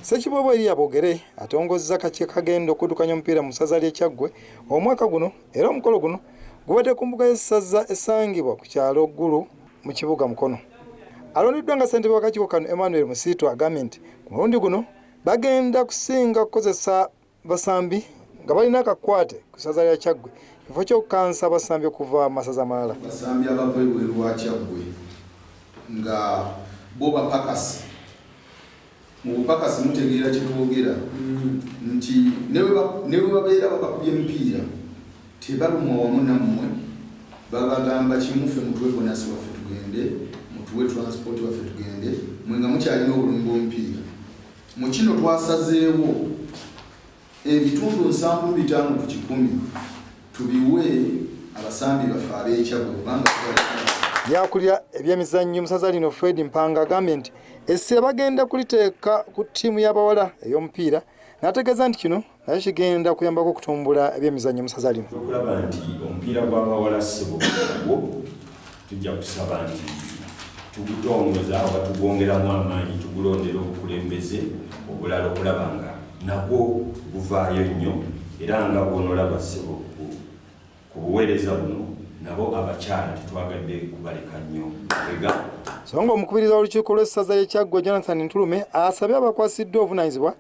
Ssekiboobo Eria Bogere atongozza kaki kagenda okudukanya omupiira mu ssaza ly'e Kyaggwe omwaka guno era omukolo guno gubadde ku mbuga y'essaza esangibwa ku kyalo Ggulu mu kibuga Mukono. Alondeddwa nga ssentebe w'akakiiko kano Emmanuel Musiitu agambye nti ku mulundi guno bagenda kusinga kukozesa basambi nga balina akakwate ku ssaza lya kyaggwe kifo ky'okukansa abasambi okuva mu masaza amalala basambi abava ebweru wa kyaggwe nga bo bapakasi mu bupakasi mutegeera kyetwogera nti ne bwe babeera babakubye emipiira tebalumwa wamu nammwe babagamba kimufe mutwe bonasi waffe tugende mutuwe transport waffe tugende mwe nga mukyalina obulumi bw'omupiira Mu kino twasazeewo ebitundu nsanvu bitaano ku kikumi tubiwe abasambi baffe ab'ekyabwe kubanga Yakulira ebyemizannyo mu ssaza lino Fred Mpanga agambye nti essira bagenda kuliteeka ku ttiimu y'abawala ey'omupiira n'ategeeza nti kino naye kigenda kuyambako okutumbula ebyemizannyo mu saza lino okulaba nti omupiira gw'abawala ssebo gwo tujja kusaba nti tugutongoza oba tugwongeramu amaanyi tugulondera obukulembeze obulala okulaba nga nagwo guvaayo nnyo era nga bwonolaba ssebo ku buweereza buno nabo abakyala tetwagadde kubaleka nnyo ega so nga omukubiriza w'olukiiko lw'essaza y'ekyaggwa jonathan ntulume asabye abakwasiddwa obuvunaanyizibwa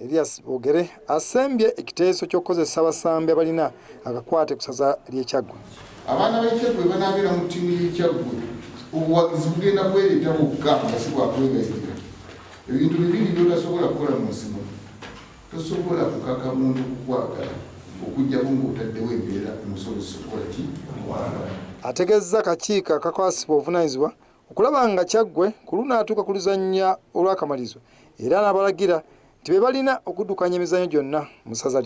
Elias Bogere asembye ekiteeso ky'okukozesa abasambi abalina akakwate ku saza ly'e Kyaggwe. Abaana b'e Kyaggwe banaabeera mu ttiimu y'e Kyaggwe, obuwagizi bugenda kwereeta bwokka nga si bwa kwegayirira. Ebintu bibiri by'otasobola kukola mu nsi muno, tosobola kukaka muntu kukwagala okuggyako ng'otaddewo embeera emusobozesa okukola ki? Ategezza akakiiko akakwasibwa obuvunaanyizibwa okulaba nga Kyaggwe ku lunaatuuka ku luzannya olw'akamalirizo era n'abalagira nti be balina okuddukanya emizannyo gyonna mu ssaza lino.